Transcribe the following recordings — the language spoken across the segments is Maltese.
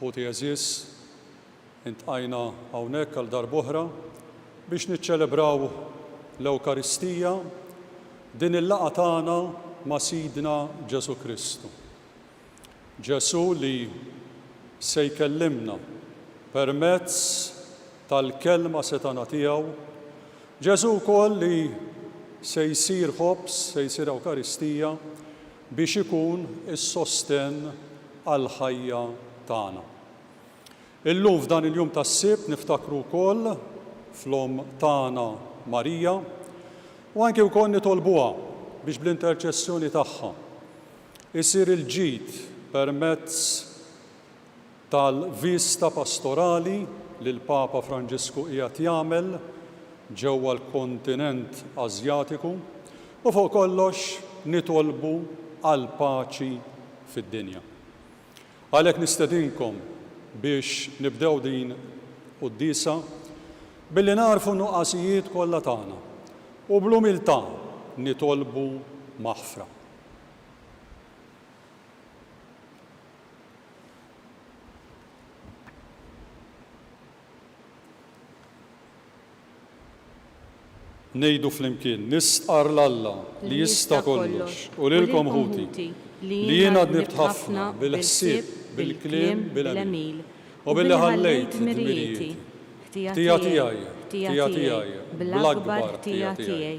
Ħuti għeżież, iltqajna hawnhekk għal darb'oħra biex niċċelebraw l-Ewkaristija, din il-laqgħa tagħna ma' Sidna Ġesù Kristu. Ġesù li se jkellimna permezz tal-Kelma setgħana tiegħu, Ġesù wkoll li se jsir Ħobż, se jsir Ewkaristija, biex ikun is-sostenn għall-ħajja tagħna. Illum f'dan il-jum tas-Sibt niftakru wkoll fl-Omm tagħna Marija u anki wkoll nitolbuha biex bl-interċessjoni tagħha jsir il-ġid permezz tal-viżta pastorali li l-Papa Franġisku qiegħed jagħmel ġewwa l-kontinent Asjatiku u fuq kollox nitolbu għall-paċi fid-dinja. Għalhekk nistedinkom biex nibdew din quddiesa billi nagħrfu n-nuqqasijiet kollha tagħna u bl-umiltà nitolbu maħfra. Ngħidu flimkien, Nistqarr 'l Alla li jista' kollox u lilkom ħuti, li jien għad nibt ħafna bil-ħsieb, bil-kliem, bil-għemil, u billi ħallejt dmirijieti, ħtija tiegħi, ħtija tiegħi, bl-akbar ħtija tiegħi.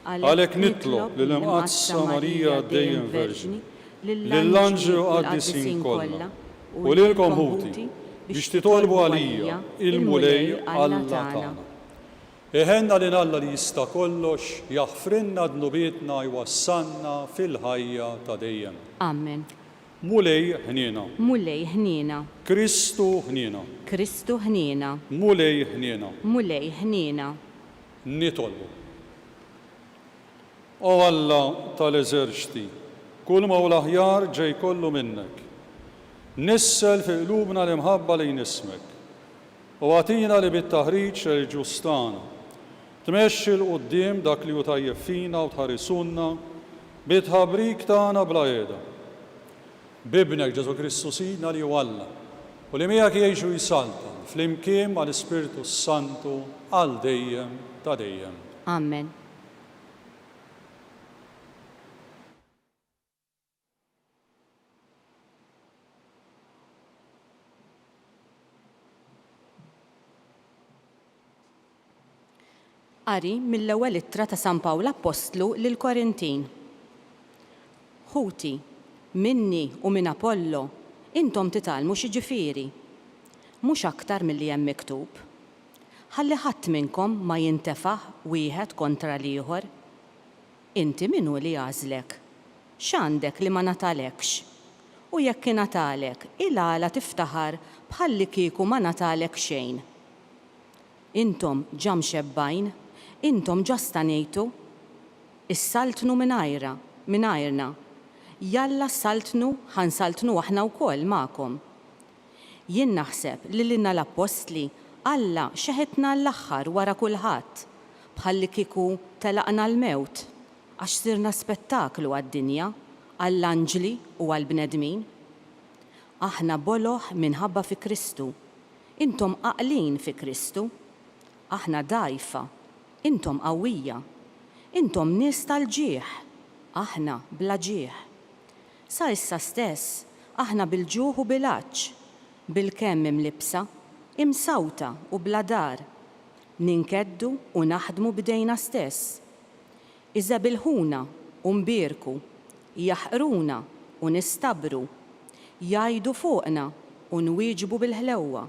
Għalhekk nitlob lill-Imqaddsa Marija Dejjem Verġni, lill-anġli u l-qaddisin kollha, u lilkom ħuti, biex titolbu għalija, il-Mulej Alla tagħna. Iħenna lil Alla li jista' kollox, jaħfrilna dnubietna, jwassalna fil-ħajja ta' dejjem. Amen. Mulej ħniena. Mulej ħniena. Kristu ħniena. Kristu ħniena. Mulej ħniena. Mulej ħniena. Nitolbu, O Alla ta' l-eżerċti, kulma hu l-aħjar ġej kollu minnek. Nissel fi qlubna l-imħabba lejn ismek, u agħtina li bit-taħriġ reliġjuż tagħna, tmexxi 'l quddiem dak li hu tajjeb fina u tħarisunna bit-tħabrik tagħna bla għeda. B'Ibnek Ġesù Kristu Sidna li hu Alla, u li miegħek jgħix u jsaltan flimkien mal-Ispirtu s-Santu għal dejjem ta' dejjem. Amen. Qari mill-Ewwel Ittra ta' San Pawl Appostlu lill-Korintin Ħuti, minni u minn Apollo intom titgħallmu x'jiġifieri? Mhux aktar milli hemm miktub, Ħalli ħadd minnkom ma jintefaħ wieħed kontra l-ieħor. Inti min hu li għażlek? X'għandek li ma ngħatalekx? U jekk ingħatalek, il-għala tiftaħar bħallikieku ma ngħatalek xejn? Intom ġa mxebbgħin, intom ġa stanejtu. Issaltnu mingħajrha, mingħajrna. Jalla ssaltnu, ħa nsaltnu aħna wkoll magħkom. Jien naħseb li lilna l-appostli Alla xeħetna għall-aħħar wara kulħadd, bħallikieku telaqna l-mewt, għax sirna spettaklu għad-dinja, għall-anġli u għall-bnedmin. Aħna boloh minħabba fi Kristu, Intom għaqlin fi Kristu. Aħna dgħajfa, intom qawwija. Intom nies tal-ġieħ, aħna bla ġieħ. Sa issa stess aħna bil-ġuħ u bil-għatx, bilkemm imlibbsa, imsawta u bla dar. Ninkeddu u naħdmu b'idejna stess. Iżebilħuna u nbierku, jaħqruna u nistabru, jgħidu fuqna u nwieġbu bil-ħlewwa.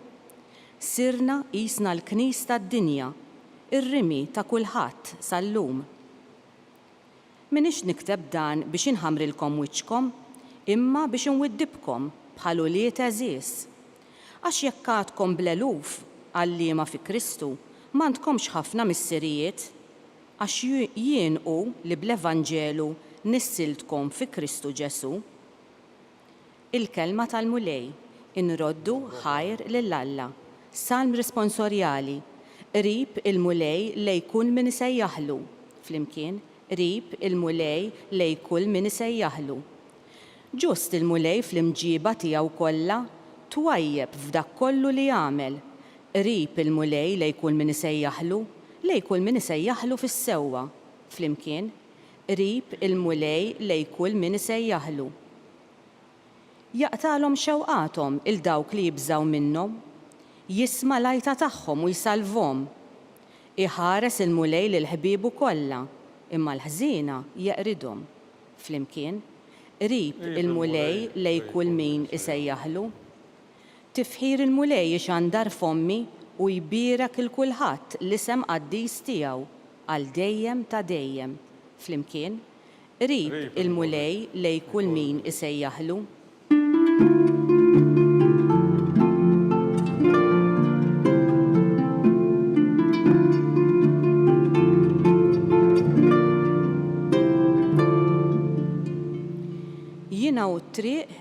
Sirna qisna l-knis tad-dinja, ir-rimi ta' kulħadd sal-lum. M'iniex nikteb dan biex inħammrilkom wiċċkom, imma biex inwiddibkom bħal ulied għeżież. Għax jekk għadkom bl-eluf għalliema fi Kristu, m'għandkomx ħafna missirijiet. Għax jien hu li bl-evanġelu nissiltkom fi Kristu Ġesù. Il-kelma tal-Mulej, inroddu ħajr lil Alla. Salm responsorjali, Qrib il-Mulej lej kull min isejjaħlu. Flimkien, Qrib il-Mulej lej kull min isejjaħlu. Ġust il-Mulej fl-imġieba tiegħu kollha, twajjeb f'dak kollu li jagħmel. Qrib il-Mulej lejn kull min isejjaħlu, lejn kull min isejjaħlu fis-sewwa. Flimkien, Qrib il-Mulej lejn kull min isejjaħlu. Jaqtagħlhom xewqathom 'il dawk li jibżgħu minnhom. Jisma' l-għajta tagħhom u jsalvhom. Iħares il-Mulej lil ħbiebu kollha, imma l-ħżiena jeqridhom. Flimkien, Qrib il-Mulej lejn kull min isejjaħlu. Tifħir il-Mulej ixandar fommi u jbierek 'il kulħadd l-isem qaddis tiegħu għal dejjem ta' dejjem. Flimkien, Qrib il-Mulej lej kull min isejjaħlu. Jiena hu t-triq,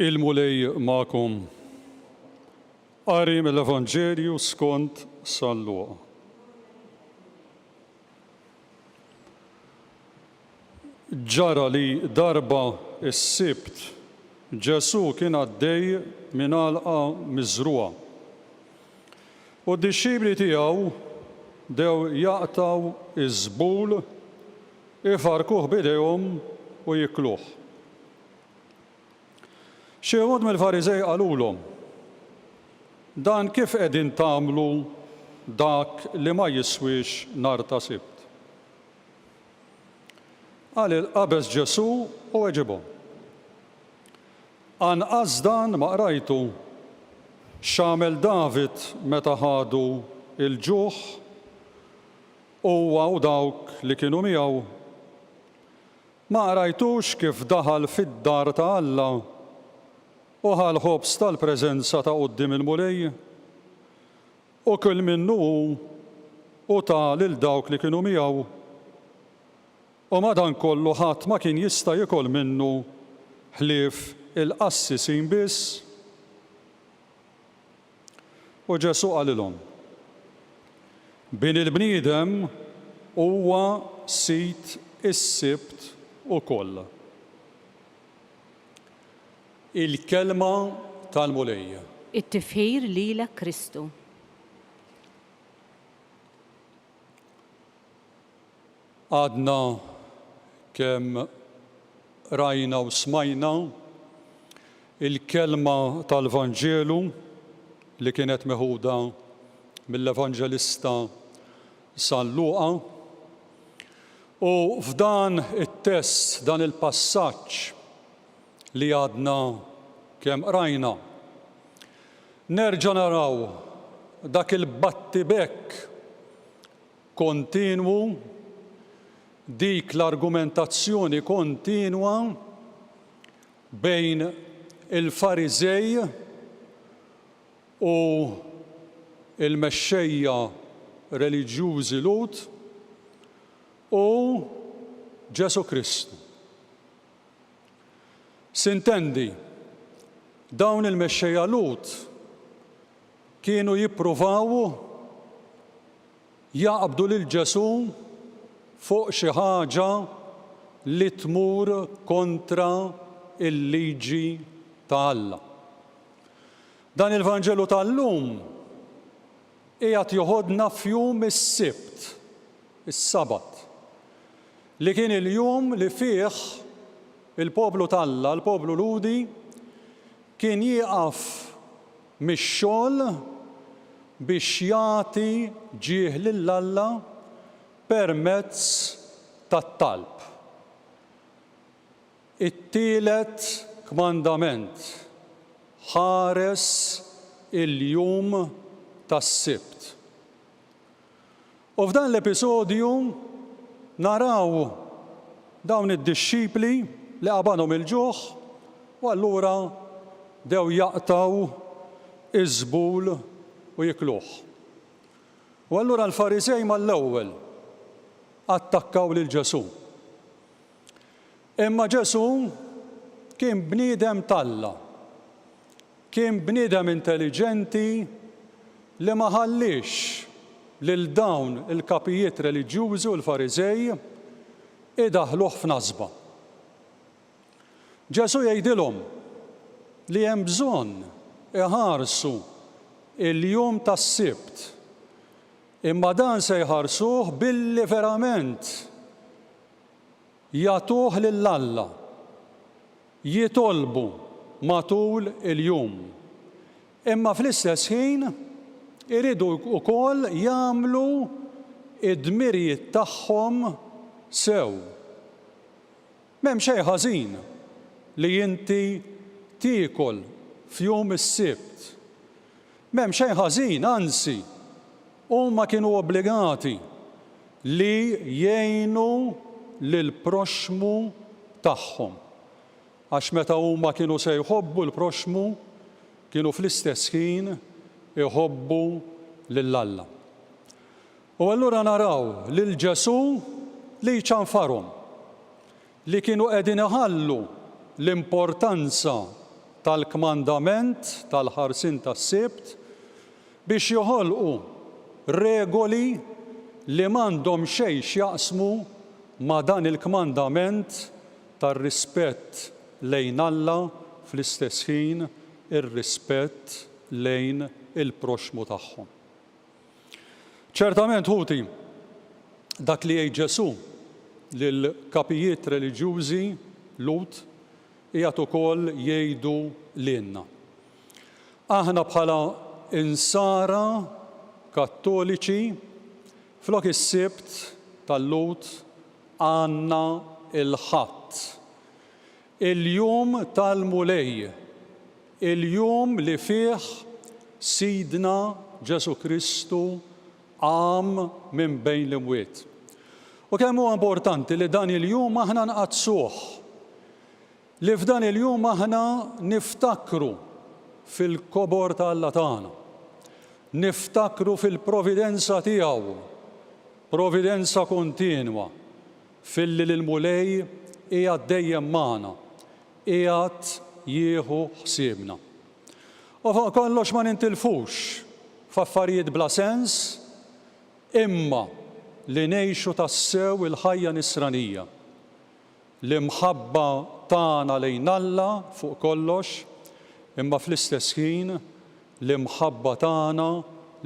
Il-Mulej magħkom. Qari mill-Evanġelju skont San Luqa. Ġara li darba s-Sibt Ġesù kien għaddej minn għalqa miżrugħa. U d-dixxipli tiegħu dew jaqtgħu ż-żbul, ifarrkuh b'idejhom u jikluh. Xi wħud mill-Fariżej qalulhom, Dan kif qegħdin tagħmlu dak li ma jiswiex nhar ta' Sibt? Qal il-qabeż Ġesù u weġibhom, Anqas dan ma qrajtu? X'għamel David meta ħadu l-ġuħ, huwa u dawk li kienu miegħu? Ma qrajtux kif daħal fid-dar ta' Alla u ħa l-ħobż tal-preżenza ta' quddiem il-Mulej? U kil minnu hu u ta lil dawk li kienu miegħu. U madankollu ħadd ma kien jista' jiekol minnu ħlief il-qassisin biss. U Ġesù qalilhom, Bini l-bniedem huwa sid is-Sibt ukoll. Il-Kelma tal-Mulej. It-Tifħir lilek Kristu. Għadna kemm rajna u smajna l-kelma tal-Vanġelu li kienet meħuda mill-Evanġelista San Luqa. U f'dan it-test, dan il-passaġġ li għadna kemm qrajna, nerġa' naraw dak il-battibekk kontinwu, dik l-argumentazzjoni kontinwa bejn il-Fariżej u l-mexxejja reliġjużi Lhud u Ġesù Kristu. S'intendi, dawn il-mexxejja Lhud Kienu jippruvaw jaqbdu lil Ġesù fuq xi ħaġa li tmur kontra l-liġi ta' Alla. Dan il-Vanġelu tal-lum qiegħed joħodna f'jum is-Sibt, is-Sabat, li kien il-jum li fih il-poplu t'Alla, l-poplu Lhudi, kien jieqaf mix-xogħol biex jagħti ġieħ lil Alla permezz tat-talb. It-tielet kmandament, Ħares il-jum tas-Sibt. U f'dan l-episodju naraw dawn id-dixxipli li qabanhom il-ġuħ u allura bdew jaqtgħu iż-żbul u jikluh. U allura l-Fariżej mal-ewwel attakkaw lil Ġesù. Imma Ġesù kien bniedem t'Alla. Kien bniedem intelliġenti li ma ħalliex lil dawn il-kapijiet reliġjużi u l-Fariżej idaħħluh f'nasba. Ġesù jgħidilhom li hemm bżonn iħarsu l-jum tas-Sibt, imma dan se jħarsuh billi verament jagħtuh lil Alla, jitolbu matul il-jum, imma fl-istess ħin iridu wkoll jagħmlu d-dmirijiet tagħhom sew. M'hemm xejn ħażin li inti tiekol f'jum is-Sibt. M'hemm xejn ħażin, anzi, Huma kienu obbligati li jgħinu lill-proxxmu tagħhom, għax meta huma kienu se jħobbu l-proxxmu, kienu fl-istess ħin iħobbu lil Alla. U allura naraw lil Ġesù li jċanfarhom. li kienu qegħdin iħallu l-importanza tal-kmandament tal-ħarsien tas-Sibt biex joħolqu regoli li m'għandhom xejn x'jaqsmu ma' dan il-kmandament tar-rispett lejn Alla fl-istess ħin ir-rispett lejn il-proxxmu tagħhom. Ċertament, ħuti, dak li jgħid Ġesù lill-kapijiet reliġjużi Lhud qiegħed ukoll jgħidu lilna. Aħna bħala Insara Kattoliċi, flok is-Sibt tal-Lhud għandna l-Ħadd. Il-jum tal-Mulej, il-jum li fih Sidna Ġesù Kristu qam minn bejn l-imwiet. U kemm huwa importanti li dan il-jum aħna nqaddsuh, li f'dan il-jum aħna niftakru fil-kobor ta' Alla tagħna, niftakru fil-providenza tiegħu, providenza kontinwa, Filli li l-Mulej qiegħed dejjem magħna, qiegħed jieħu ħsiebna. U fuq kollox ma nintilfux f'affarijiet bla sens, imma li ngħixu tassew il-ħajja nisranija. L-imħabba tagħna lejn Alla fuq kollox, imma fl-istess ħin l-imħabba tagħna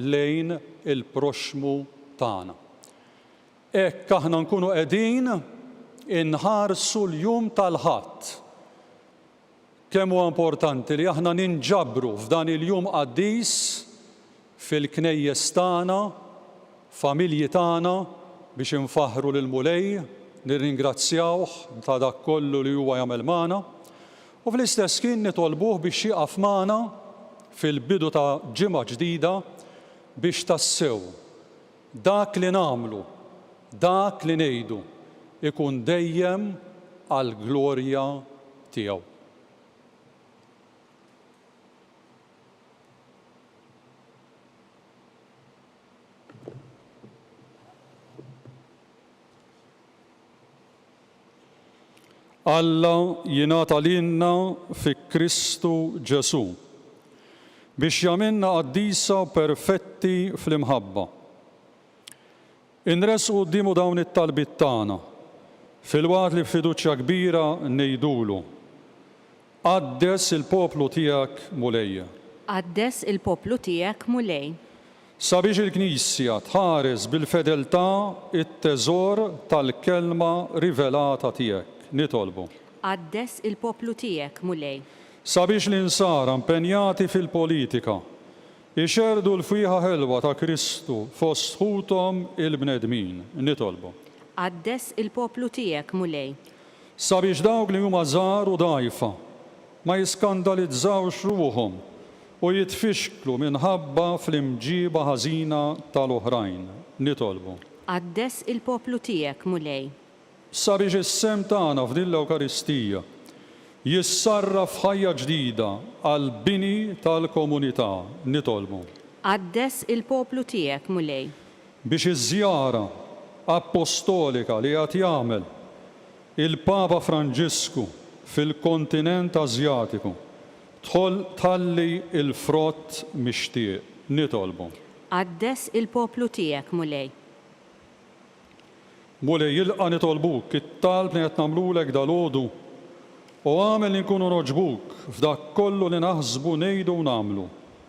lejn il-proxxmu tagħna. Hekk aħna nkunu qegħdin inħarsu l-jum tal-Ħadd. Kemm huwa importanti li aħna ninġabru f'dan il-jum qaddis fil-knejjes tagħna, familji tagħna biex infaħħru lill-Mulej, nirringrazzjawh ta' dak kollu li huwa jagħmel magħna, u fl-istess ħin nitolbuh biex jieqaf magħna fil-bidu ta' ġimgħa ġdida biex tassew, Dak li nagħmlu, dak li ngħidu, ikun dejjem għall-glorja tiegħu. Alla jingħata lilna fi Kristu Ġesù, biex jagħmilna qaddisa u perfetti fl-imħabba. Inressqu quddiemu dawn it-talbiet tagħna, filwaqt li b'fiduċja kbira ngħidulu, Qaddes il-poplu tiegħek, Mulej. Qaddes il-poplu tiegħek, Mulej. Sabiex il-Knisja tħares bil-fedeltà t-teżor tal-kelma rivelata tiegħek, nitolbu. Qaddes il-poplu tiegħek, Mulej. Sabiex l-Insara mpenjati fil-politika jxerrdu l-fwieħa ħelwa ta' Kristu fost ħuthom il-bnedmin, nitolbu. Qaddes il-poplu tiegħek, Mulej. Sabiex dawk li huma żgħar u dgħajfa ma jiskandalizzawx ruħhom u jitfixklu minħabba fl-imġieba ħażina ta' l-oħrajn, nitolbu. Qaddes il-poplu tiegħek, Mulej. Sabiex is-sehem tagħna f'din l-Ewkaristija jissarraf f'ħajja ġdida għall-bini tal-komunità, nitolbu. Qaddes il-poplu tiegħek, Mulej. biex iż-żjara appostolika li qed jagħmel il-Papa Franġisku fil-kontinent Ażjatiku tħalli l-frott mixtieq. Nitolbu. Qaddes il-poplu tiegħek, Mulej. Mulej, ilqa' nitolbuk it-talb li qed nagħmlulek dalgħodu u agħmel li nkunu nogħġbuk f'dak kollu li naħsbu, ngħidu u nagħmlu.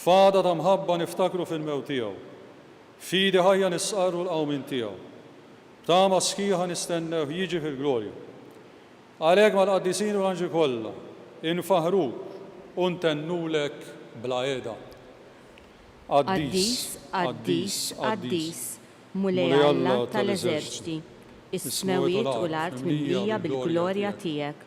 F'għada ta' mħabba niftakru fil-mewt tiegħu. F'idi ħajja nistqarru l-qawmien tiegħu. B'tama sħiħa nistennewh jiġi fil-glorja. Għalhekk mal-qaddisin u l-anġli kollha infaħħruk u ntennulek bla heda. Qaddis, qaddis, qaddis, Mulej Alla tal-eżerċti, is-smewwiet u l-art mimlija bil-glorja tiegħek.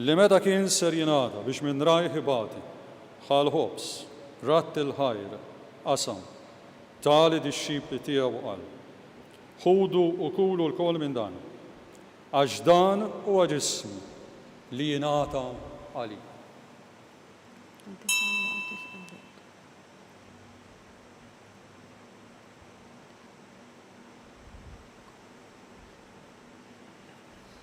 Li meta kien ser jingħata biex minn rajh ibati, ħa l-ħobż, radd il-ħajr, qasam, ta lid-dixxipli tiegħu u qal, Ħudu u kulu lkoll minn dan, għax dan huwa ġismi li jingħata għalikom.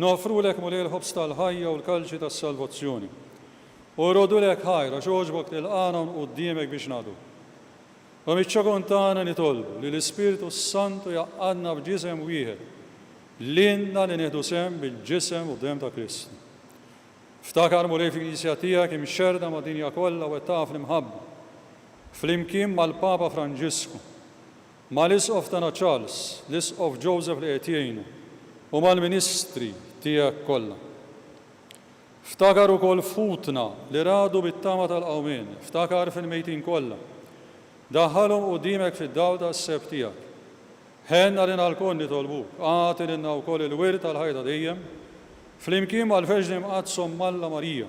Noffrulek, Mulej, il-ħobż tal-ħajja u l-kalċi tas-salvazzjoni. U rgħodulek ħajr, għax għoġbok tilqagħna hawn quddimek biex ngħadu. U miċ-ċokon tagħna nitolbu li l-Ispirtu s-Santu jgħaqqadna f'ġisem wieħed, lilna li nieħdu sehem bil-ġisem u d-demm ta' Kristu. Ftakar, Mulej, fil-Knisja tiegħek imxerrda mad-dinja kollha wettaqha fl-imħabba, flimkien mal-Papa Franġisku, Mal-Isqof tagħna Charles, l-Isqof Joseph li qiegħed jgħinu, u mal-ministri tiegħek kollha. Ftakar ukoll f'ħutna li ragħdu bit-tama tal-qawmien, ftakar fil-mejtin kollha. Daħħalhom quddiemek fid-dawl tas-seb tiegħek. Ħenn għalina lkoll nitolbuk, agħti lilna wkoll il-wirt tal-ħajja ta' dejjem, flimkien mal-Verġni Mqaddsa Omm Alla Marija.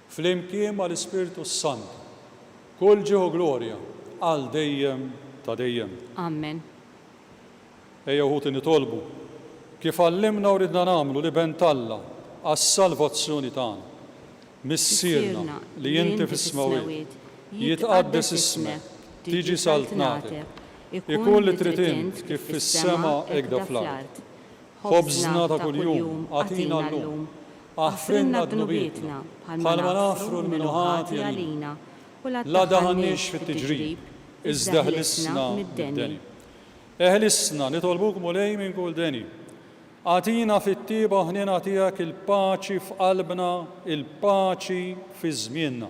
Flimkien mal-Ispirtu s-Santu. Kull ġieħ u glorja għal dejjem ta' dejjem. Amen. Ejjew ħuti nitolbu, kif għallimna u ridna nagħmlu, l-Iben t'Alla għas-salvazzjoni tagħna. Missierna li inti fis-smewwiet, jitqaddes ismek, tiġi saltnatek, ikun li trid int kif fis-sema hekda fl-art. Ħobżna ta' kuljum agħtina llum. Aħfrilna dnubietna, bħalma naħfru lil min hu ħati għalina. La daħalniex fit-tiġrib, iżda ħlisna mid-deni. Eħlisna, nitolbuk Mulej minn kull deni. Agħtina fit-tjieba ħniena tiegħek il-paċi f'qalbna, il-paċi fi żmienna.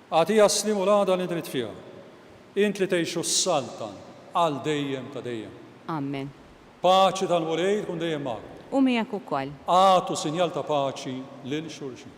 Agħtiha s-sliem u l-għada li dritt fiha. Int li tgħixu s-Saltan għal dejjem ta' dejjem. Amen. Paċi tal-Mulej tkun dejjem magħkom. U miegħek ukoll. Agħtu sinjal ta' paċi lil xulxin.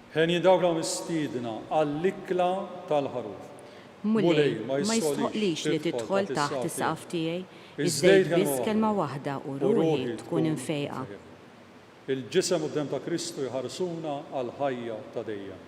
Henji dawra mistiedna għall-ikla tal-Ħaruf. Mulej, ma jistħoqqlix li tidħol taħt is-saqaf tiegħi, iż-żejt biss kelma waħda u ruħi tkun imfejqa. Il-Ġisem u d-Demm ta' Kristu jħarsuna għall-ħajja ta' dejjem.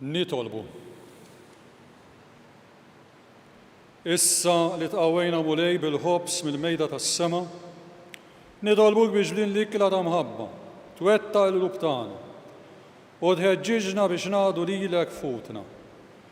Nitolbu. Issa li tqawwejna Mulej bil-ħobż mill-mejda tas-sema, nitolbuk biex din l-ikla ta' mħabba twettaq il-qlub tagħna u tħeġġiġna biex naqdu lilek f'ħutna.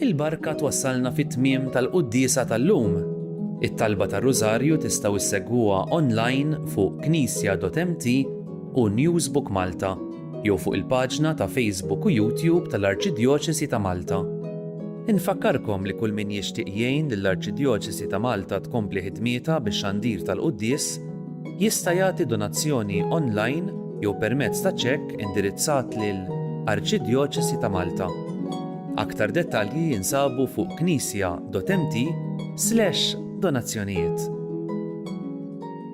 Il-barka twassalna fit-tmiem tal-quddiesa tal-lum. It-talba tar-Rużarju tistgħu issegwuha online fuq knisja.mt u Newsbook Malta. jew fuq il-paġna ta' Facebook u YouTube tal-Arċidjoċesi ta' Malta. Infakkarkom li kull min jixtieq jgħin lill-Arċidjoċesi ta' Malta tkompli ħidmietha bix-xandir tal-quddies jista' jagħti donazzjoni online jew permezz ta' ċekk indirizzat lil Arċidjoċesi ta' Malta. Aktar dettalji jinsabu fuq knisja.mt/donazzjonijiet.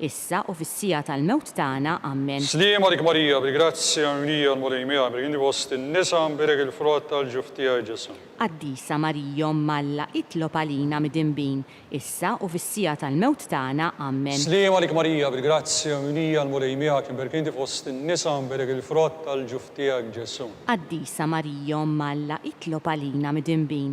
Issa u fis-siegħa tal-mewt tagħna. Ammen. Sliem għalik Marija bil-grazzja mimlija l-Mulej miegħek bil inti fost in-nisa nbierek il-frott tal-ġuf tiegħi Ġesù. Qaddisa Marija Omm Alla itlob għalina midinbin, issa u fis-siegħa tal-mewt tagħna. Ammen. Sliem għalik Marija bil-grazzja mimlija l-Mulej miegħek nbierek inti fost in-nisa nbierek il-frott tal-ġuf tiegħek Ġesù. Qaddisa Marija Omm Alla itlob għalina midinbin,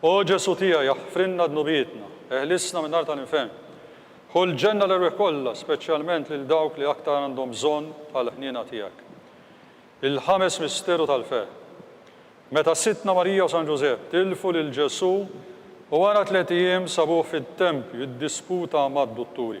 O Ġesù tiegħi, aħfrilna dnubietna, eħlisna min-nar tal-infern. Ħu l-ġenna l-erwieħ kollha, speċjalment lil dawk li aktar għandhom bżonn tal-ħniena tiegħek. Il-Ħames Misteru tal-Ferħ. Meta Sidtna Marija u San Ġużepp tilfu lil Ġesù u wara tliet ijiem sabuh fit-tempju jiddisputa mad-dutturi.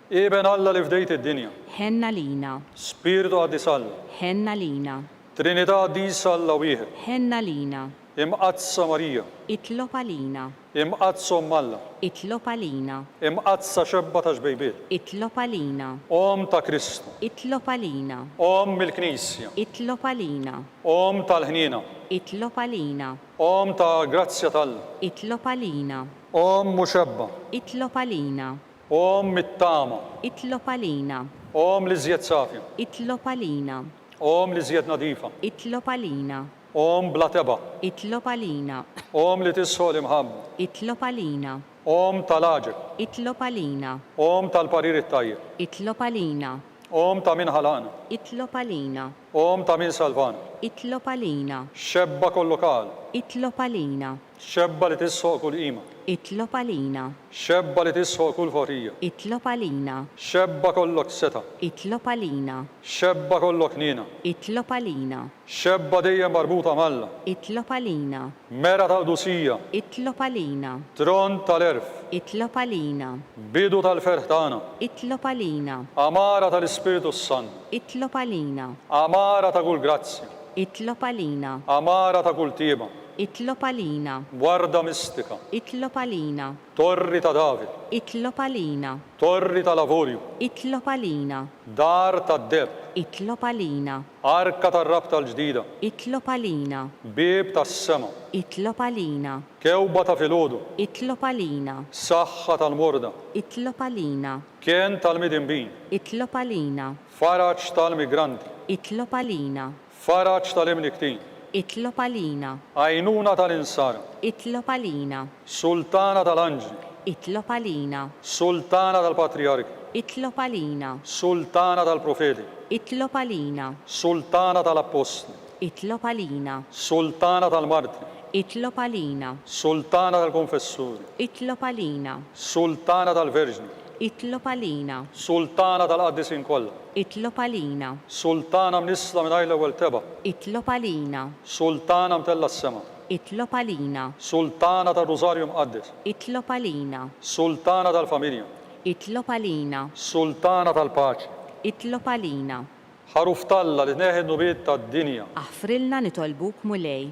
Iben Alla li fdejt id-dinja. Ħenn għalina. Spirtu Qaddis Alla. Ħenn għalina. Trinità Qaddisa Alla Wieħed. Ħenn għalina. Imqaddsa Marija. Itlob għalina. Imqaddsa Omm Alla. Itlob għalina. Imqaddsa Xebba ta' Xbejbiet. Itlob għalina. Omm ta' Kristu. Itlob għalina. Omm il-Knisja. Itlob għalina. Omm tal-ħniena. Itlob għalina. Omm ta' grazzja t'Alla. Itlob għalina. Omm u Xebba. Itlob għalina. Omm it-tama. Itlob għalina. Omm l-iżjed safja. Itlob għalina. Omm l-iżjed nadifa. Itlob għalina. Omm bla tebgħa. Itlob għalina. Omm li tisħoq l-imħabba. Itlob għalina. Omm ta' l-għaġeb. Itlob għalina. Omm tal-parir it-tajjeb. Itlob għalina. Omm ta' min ħalaqna. Itlob għalina. Omm ta' min salvana. Itlob għalina. Xebba kollok għal. Itlob għalina. Xebba li tisħoq kull qima. Itlob għalina. Xebba li tisħoq kull ħorrija. Itlob għalina. Xebba kollok setgħa. Itlob għalina. Xebba kollok ħniena. Itlob għalina. Xebba dejjem marbuta m'Alla. Itlob għalina. Mera tal-qdusija. Itlob għalina. Trond tal-għerf. Itlob għalina. Bidu tal-ferħ tagħna. Itlob għalina. Għamara tal-Ispirtu s-Sant. Itlob għalina. Għamara ta' kull grazzja. Itlob għalina. Għamara ta' kull tjieba. Itlob għalina. Warda mistika. Itlob għalina. Torri ta' David. Itlob għalina. Torri tal-Avorju. Itlob għalina. Dar tad-deheb. Itlob għalina. Arka tar-rabta l-ġdida. Itlob għalina. Bieb tas-sema. Itlob għalina. Kewba ta' filgħodu. Itlob għalina. Saħħa tal-morda. Itlob għalina. Kenn tal-midinbin. Itlob għalina. Faraġ tal-migranti. Itlob għalina. Faraġ tal-imnikktin. Itlob għalina. Għajnuna tal-insara. Itlob għalina. Sultana tal-anġli. Itlob għalina. Sultana tal-patrijarki. Itlob għalina. Sultana tal-profeti. Itlob għalina. Sultana tal-appostli. Itlob għalina. Sultana tal-martri. Itlob għalina. Sultana tal-konfessuri. Itlob għalina. Sultana tal-verġni. Itlob għalina. Sultana tal-Qaddisin kollha. Itlob għalina. Sultana mnissla mingħajr l-ewwel tebgħa. Itlob għalina. Sultana mtellgħa s-sema. Itlob għalina. Sultana tar-Rużarju Mqaddes. Itlob għalina. Sultana tal-familja. Itlob għalina. Sultana tal-paċi. Itlob għalina. Ħaruf t'Alla li tneħħi n-nubiet tad-dinja. Aħfrilna nitolbuk Mulej.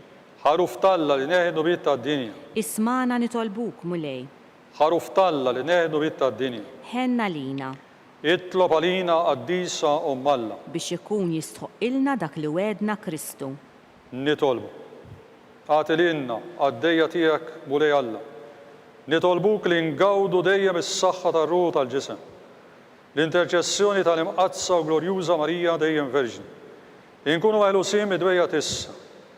Ħaruf t'Alla li tneħħi n-nubiet tad-dinja. Ismagħna nitolbuk Mulej. Ħaruf t'Alla li neħdu l-id tad-dinja. Ħenn għalina. Itlob għalina Qaddisa Omm Alla. Biex ikun jistħoqqilna dak li wegħedna Kristu. Nitolbu. Agħti lilna, qaddejja tiegħek Mulej Alla. Nitolbuk li ngawdu dejjem is-saħħa tar-ruħ u tal-ġisem. L-interċessjoni tal-Imqaddsa u Glorjuża Marija dejjem Verġni. Inkunu meħlusin mid-dwejjaq t'issa.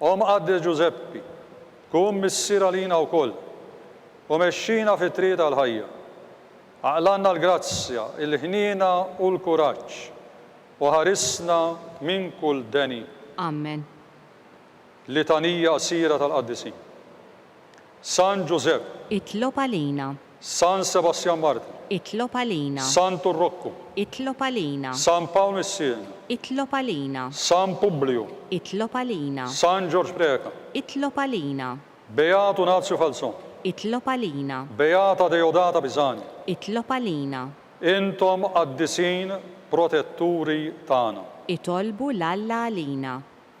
O Mqaddes Ġużeppi, kun missier għalina wkoll, u mexxina fit-triq tal-ħajja. Aqlanna l-grazzja, il-ħniena u l-kuraġġ, u ħarisna minn kull deni. Amen. Litanija qsira tal-Qaddisin. San Ġużepp. Itlob għalina. San Sebastjan Martri. Itlob għalina. Santu Rokku. Itlob għalina. San Pawl Missiena. Itlob għalina. San Publiju. Itlob għalina. San Ġorġ Preca. Itlob għalina. Beat Unazju Falzon. Itlob għalina. Beata Deodata Pisani. Itlob għalina. Intom qaddisin protetturi tagħna. Itolbu 'l Alla għalina.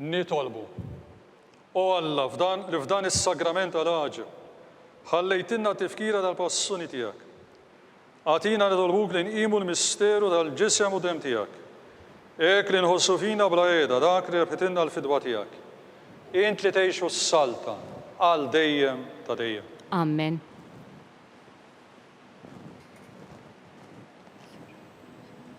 Nitolbu. O Alla, f'dan, li f'dan is-sagrament tal-għaġeb ħallejtilna tifkira tal-passuni tiegħek. Agħtina nitolbuk li nqimu l-misteru tal-Ġisem u Demm tiegħek. Hekk li nħossu fina bla qiegħda dak li rebħitilna l-fidwa tiegħek. Int li tgħix u ssaltan għal dejjem ta' dejjem. Amen.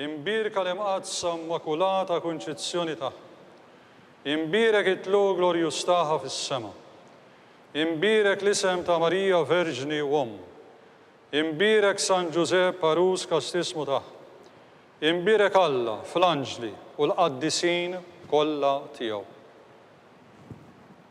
Imbierka l-Imqaddsa Immakulata Kunċizzjoni tagħha. Imbierek it-tluq glorjuż tagħha fis-sema. Imbierek l-isem ta' Marija Verġni u Omm. Imbierek San Ġużepp għarus kastismu tagħha. Imbierek Alla fl-anġli u l-qaddisin kollha tiegħu.